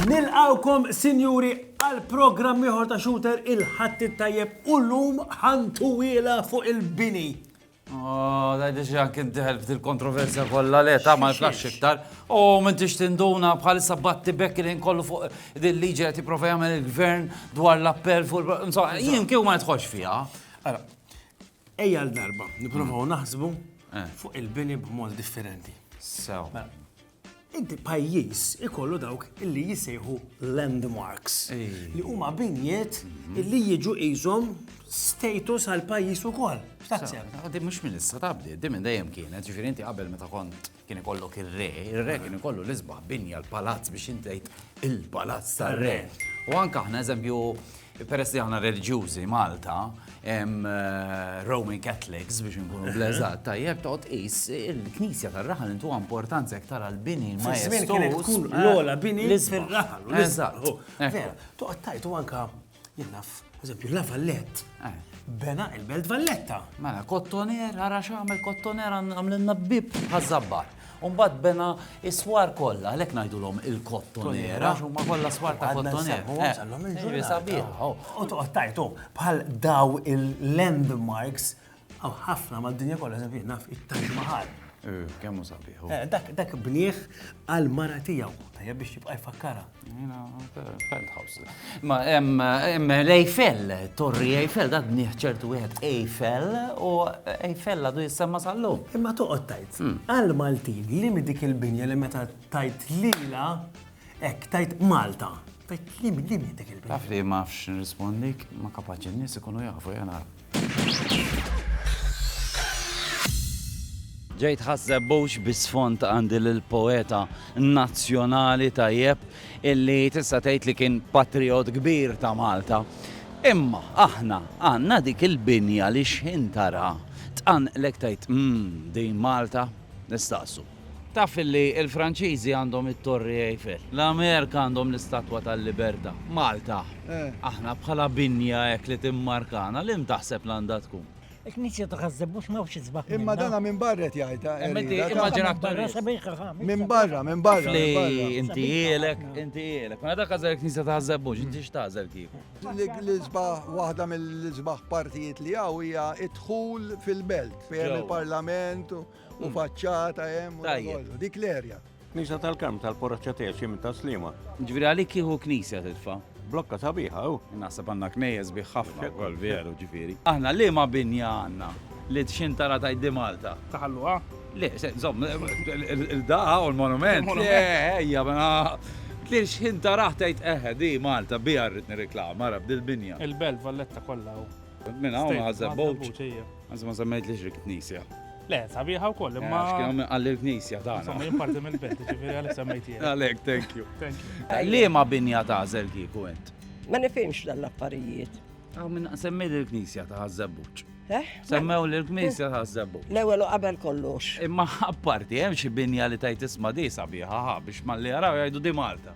Nilqawkom sinjuri għal programm ieħor ta' Shooter il-Ħadd it-tajjeb u llum ħantuwielha fuq il-bini. Oh, da diġi anki d-dihel f'dil kontroversja kollha le ta' ma jflax iktar. U minn tix tinduna bħalissa batti bekk li nkollu fuq din liġi qed jipprova jagħmel il-gvern dwar l-appell fuq il jien kieku ma jitħoġ fiha. Ara, ejja l-darba, nipprovaw mm. naħsbu eh. fuq il-bini b'mod differenti. Sew. Mela, Inti pajjiż ikollu dawk illi jisejħu landmarks li huma binjiet mhm. illi jiġu qishom status għal pajjiż ukoll. X'taħseb? Għaddi mhux minn issa tabdi, di minn dejjem kienet, ġifieri inti qabel meta kont kien ikollok ir-re, ir-re kien ikollu l-isbaħ binja l-palazz biex intejt il-palazz tar-re. U anke aħna eżempju Peress li aħna reliġjużi Malta, Roman Catholics biex nkunu bleżat, tajjeb toqgħod qis il-Knisja tar-raħal intu importanza iktar għal bini ma tkun eh, l-ola bini fir-raħal. Eżatt. Toqgħod tajt u anka jenaf, eżempju, la Vallett. Eh. Bena il-Belt Valletta. Mela, kottoner, għara xamel kottoner għamlenna bib ħazzabbar. U mbagħad bena is-swar kollha, għalhekk ngħidulhom il-kottonera, għax huma kollha swar ta' kottonera. Ġifieri sabiħ. U toqgħod tajtu bħal daw il-landmarks għaw ħafna mad-dinja kollha eżempju naf it-Taj Mahal. Eh, kemm hu sabiħ. Eh, dak bnieh għal mara tiegħu, tajjeb biex jibqa' jfakkara. Penthouse. Ma hemm l-Eiffel, Torri Eiffel, dak bnieh ċertu wieħed Eiffel u Eiffel għadu jissemma sallu. Imma toqgħod tajt. Hmm. Għal Maltin li mi dik il-binja li meta tajt lila hekk tajt Malta. Tajt li mi dik il-binja. Taf li ma fx nirrispondik, ma kapaċi n-nies ikunu jafu jena. Ġejt ħasseb bux bisfond għandi l-poeta nazzjonali tajjeb illi tista' tgħid li kien patriot kbir ta' Malta. Imma aħna għandna dik il-binja li xħin tara tqanqlek tgħid mmm din Malta nistaqsu. Taf li l-Franċiżi għandhom it-Torri Eiffel, l-Amerka għandhom l-Istatwa tal-Libertà, Malta, aħna bħala binja hekk li timmarkana, liem taħseb li għandha tkun? Il-Knisja ta' Ħaż-Żebbuġ m'hawnx isbaħ minnha. Imma dana minn barra qed jgħidha. Immaġina aktar. Minn barra, minn barra. Li inti hielek, inti hielek. Ma dak għażel il-Knisja ta' Ħaż-Żebbuġ, inti x'tagħżel kieku? L-isbaħ waħda mill-isbaħ partijiet li hawn hija d-dħul fil-belt, fejn il-Parlament u U faċċata hemm u dan Tajjeb. kollu. Dik l-erja. Knisa tal-Karm tal-Poraċċa Tgħexi minn Taslima. Ġifieri għalik kieku knisja titfa'. Blokka sabiħa, u. Naħseb għandna knejjes sbieħ ħafna wkoll, veru, ġifieri. Aħna liema binja għandna li txintara tgħid di Malta? Taħalluha? Le, se, żomm, il-daqa u l-monument. Il-monument. Le, ejja, ma. Li xħintaraħ tgħid eħe, di Malta, biha rrid nirriklama, ara, b'dil-binja. Il-Belt, Valletta kollha u. Minn hawn State, ħażebbuċ. Ħaż-Żebbuġ, ejja. Għanzi ma semmejt li xrik knisja. Le, sabiħa u koll, imma. Għax kienu għalli l-knisja ta' għana. Somma jimparti mill-belt, ġifiri għalli semmejti. Għalek, thank you. Thank you. Li ma binja ta' zel kiku ent? Ma nifimx dal-affarijiet. Għaw minn semmi l-knisja ta' zebbuċ. Eh? Semmew l-knisja ta' zebbuċ. L-ewel u qabel kollox. Imma apparti, hemm xi binja li tajt isma di sabiħa biex ma li jaraw jgħidu di Malta.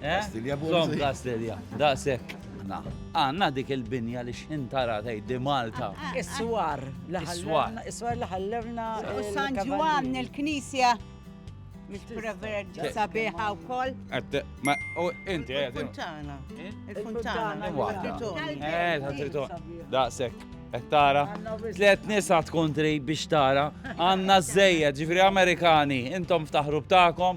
Kastilja Bonzi. Zom Kastilja, daqsek. Għanna dik il-binja li xintara tgħid di Malta. Is-swar. Is-swar. Is-swar li ħallewna. U San Ġwann il-Knisja. Preverġi sabiħa u koll. Ma, u inti, għed. Il-Fontana. Il-Fontana. Eh, ħatriton. Daqsek. Tara, tlet nisa tkun trid biex tara, għanna z-zejja, ġifri Amerikani, intom ftaħru btakom,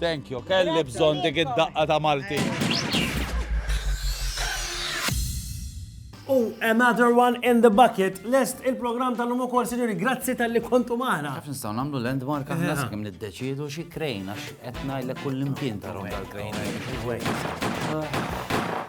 Thank you, kelli bżonn dik id-daqqa ta' Malti. U another one in the bucket. Lest il-programm tal-lum ukoll, sinjuri, grazzi tal-li kontu maħna. Għaf nistaw namlu landmark għahna s kim niddeċidu xie krejn, għax etna il-kull imkien tarom tal-krejn.